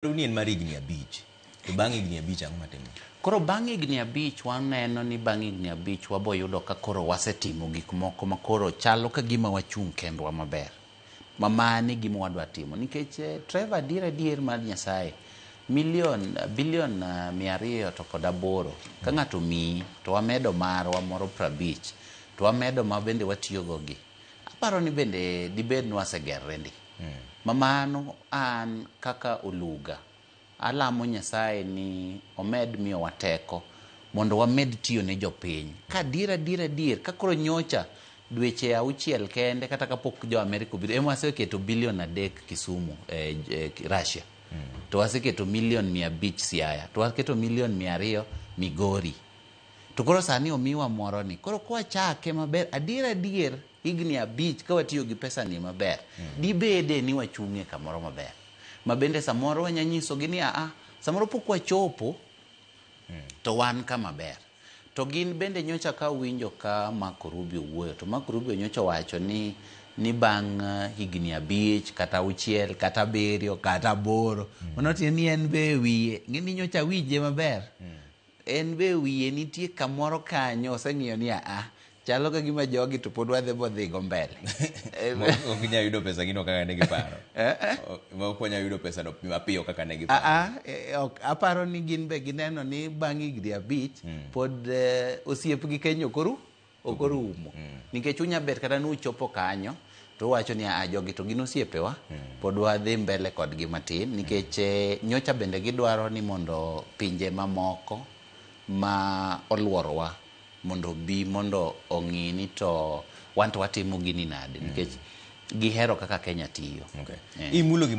Dwaru ni en mar higni abich. To bang' higni abich ang'o matimore? Koro bang' higni abich waneno ni bang' higni abich waboyudo ka koro wasetimo gik moko ma koro chalo ka gima wachung' kendwa maber. Ma mano e gima wadwa timo. Nikech eh, Trevor adier adier mar Nyasaye, milion, bilion ah, mia ariyo to kod aboro, ka ng'ato omiyi, to wamedo marwa moro prabich, to wamedo ma bende watiyogo gi. Aparo ni bende dibed ni wasegerre ndi. Ma mano an kaka Oluga, alamo Nyasaye ni omed miyowa teko mondo wamed tiyo ne jopiny. Ka adier adier adier, ka koro nyocha dweche auchiel kende kata ka pok jo Amerika obiro, ema waseketo billion adek Kisumu e, e Russia. To waseketo million mia abich Siaya. To waketo million mia ariyo Migori. To koro sani omiwa moroni. Koro kwachake maber, adier adier, Higni abich ka watiyo gi pesani maber, mm. dibede ni wachung'e kamoro maber. Ma bende samoro wanya nyisogi ni aa, samoro pok wachopo mm. to wan kama ber. To gin bende nyocha ka winjo ka Marco Rubio wuoyo, to Marco Rubio nyocha wacho ni ni bang' eh, higni abich kata auchiel kata abiriyo kata aboro mm. mano tiende ni en be wiye ng'eni nyocha winje maber mm. En be wiye nitie kamoro kanyo oseng'iyo ni aa chalo ka gima jogi to pod wadhi bodhigo mbele Eh, ok inyal yudo pesa gino kaka ne giparo Eh, eh. O- ok wanyal yudo pesa no mapiyo kaka ne giparo Aa, eh, ok, aparo ni gin be gineno ni bang' higni abich pod eh, osiepgi Kenya ok oru ok orumo nikech unya bet kata ni uchopo kanyo to uwacho ni a jogi to gin osiepewa pod wadhi mbele kodgi matin nikech eh, nyocha bende gidwaro ni mondo pinje mamoko ma olworowa mondo bi mondo ong'i ni to wan to watimo gini nade nikech gihero kaka Kenya tiyo Okay. Eh. Imulo gimoro